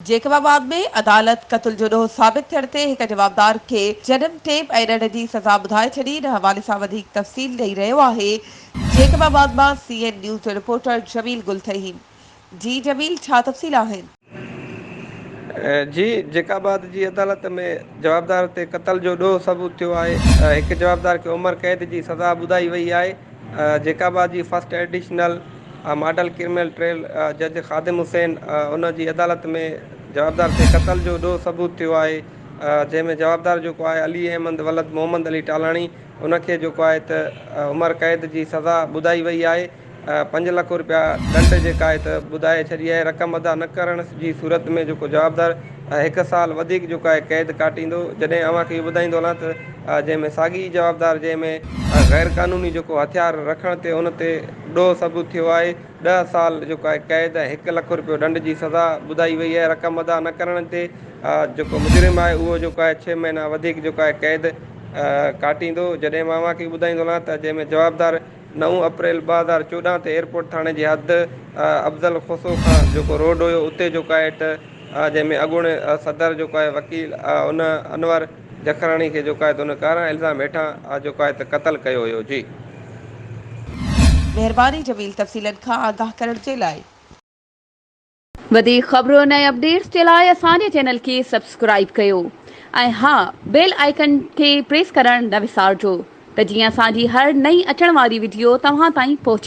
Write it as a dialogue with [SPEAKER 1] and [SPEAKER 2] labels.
[SPEAKER 1] Jacob آباد ۾ عدالت قتل جو ڏوهه ثابت ٿيڻ تي هڪ جوابدار کي جنم ٽيپ ۽ ڏنڊ جي سزا ٻڌائي ڇڏي، ان حوالي سان وڌيڪ تفصيل ڏئي رهيو آهي جيڪب آباد مان سي اين نيوز جو رپورٽر جميل گل ٿهيم، جي جميل ڇا تفصيل آهن؟
[SPEAKER 2] جي جيڪب آباد جي عدالت ۾ جوابدار تي قتل جو ڏوهه ثبوت ٿيو آهي، هڪ جوابدار کي عمر قيد جي سزا ٻڌائي وئي آهي، جيڪب آباد جي first additional. Model criminal trial جج خادم حسين ان جي عدالت ۾ جوابدار تي قتل جو ڏو ثبوت ٿيو آهي جنهن ۾ جوابدار جيڪو آهي علي احمد ولد محمد علي ٽالاڻي ان کي جيڪو آهي ته عمر قيد جي سزا ٻڌائي وئي آهي پنج لک روپيا ڏنڊ جيڪا آهي ته ٻڌائي ڇڏي آهي رقم ادا نه ڪرڻ جي صورت ۾ جيڪو جوابدار هڪ سال وڌيڪ جيڪو آهي قيد ڪاٽيندو جڏهن اوهان کي اهو ٻڌائيندو هلان ته جنهن ۾ ساڳي جوابدار جنهن ۾ غيرقانوني جيڪو هٿيار رکڻ تي ان تي ڏوهه ثبوت ٿيو آهي، ڏهه سال جيڪو آهي قيد ۽ هڪ لک رپيو ڏنڊ جي سزا ٻڌائي وئي آهي، رقم ادا نه ڪرڻ تي جيڪو مجرم آهي اهو جيڪو آهي ڇهه مهينا وڌيڪ جيڪو آهي قيد ڪاٽيندو، جڏهن مان اوهان کي ٻڌائيندو هلان ته جنهن ۾ جوابدار نو اپريل ٻه هزار چوڏهن تي ايئرپورٽ ٿاڻي جي حد افضل کوسو کان جيڪو روڊ هيو اتي جيڪو آهي ٽه جنهن ۾ اڳوڻي صدر جيڪو آهي وڪيل ان انور جکراڻي کي جوکائي تون ڪارا الزام هيٺان آ جوکائي ته قتل ڪيو هيو جي.
[SPEAKER 1] مهرباني جميل تفصيلن کان آگاهه ڪرڻ جي لاء.
[SPEAKER 3] وڌيڪ خبرن ۽ اپڊيٽس جي لاء اسان جي چينل کي سبسڪرائيب ڪيو ۽ ها بيل آئيڪن کي پريس ڪرڻ نه وسارجو ته جيئن اسان جي هر نئين اچڻ واري وڊيو توهان تائين پهچي.